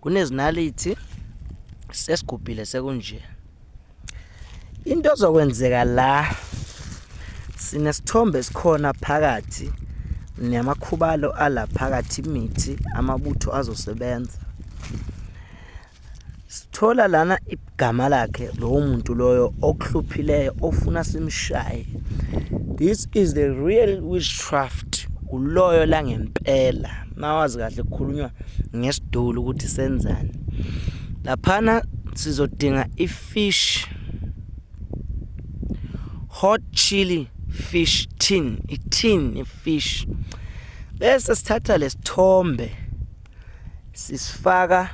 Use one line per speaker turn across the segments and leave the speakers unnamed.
kunezinalithi sesigubhile sekunje into ezokwenzeka la sinesithombe esikhona phakathi namakhubalo ala phakathi imithi amabutho azosebenza sithola lana gama lakhe lowo muntu loyo okuhluphileyo ofuna simshaye this is the real witchcraft uloyo la ngempela mawazi kahle kukhulunywa ngesidulu ukuthi senzani laphana sizodinga ifish hot chili fish tin itin ifish bese sithatha lesithombe sisifaka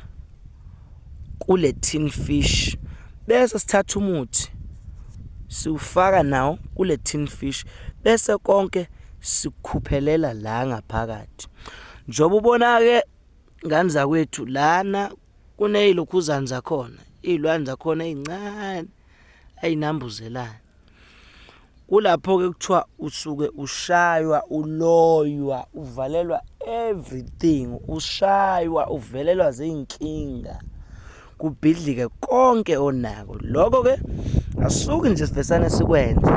kule tin fish bese sithatha umuthi siwufaka nawo kule tin fish bese konke sikhuphelela la ngaphakathi njengoba ubona-ke ngane zakwethu lana kuneyilokhuzane zakhona iy'lwane zakhona ey'ncane ay'nambuzelayo kulapho-ke kuthiwa usuke ushaywa uloywa uvalelwa everything ushaywa uvelelwa ziy'nkinga kubhidlike konke onako loko-ke asuke nje sivesane sikwenze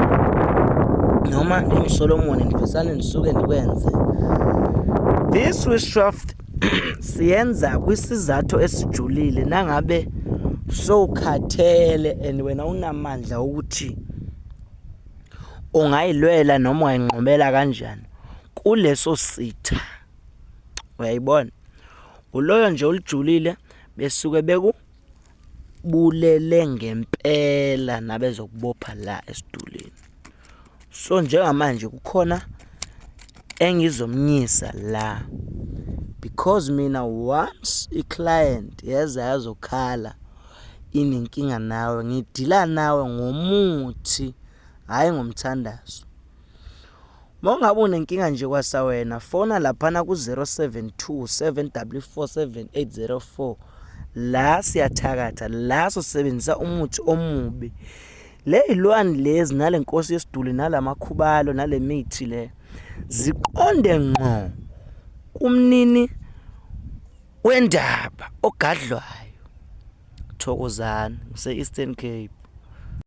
noma ngingusolomoni ndivesane ndisuke ndikwenze this witchcraft siyenza kwisizathu esijulile nangabe sowukhathele and wena unamandla ukuthi ungayilwela noma ungayinqobela kanjani kuleso sitha uyayibona uloyo nje olijulile besuke beku bulele ngempela nabezokubopha la esidulini so njengamanje kukhona engizomnyisa la because mina once i-client yeza yazokhala inenkinga nawe ngidila nawe ngomuthi hhayi ngomthandazo Mongabe unenkinga nje kwasa wena fona laphana ku-0727W47804 la siyathakatha la sosebenzisa umuthi omubi le yilwani lezi nale nkosi yesiduli nalamakhubalo nale mithi le ziqonde ngqo kumnini wendaba ogadlwayo thokozani ngise-eastern cape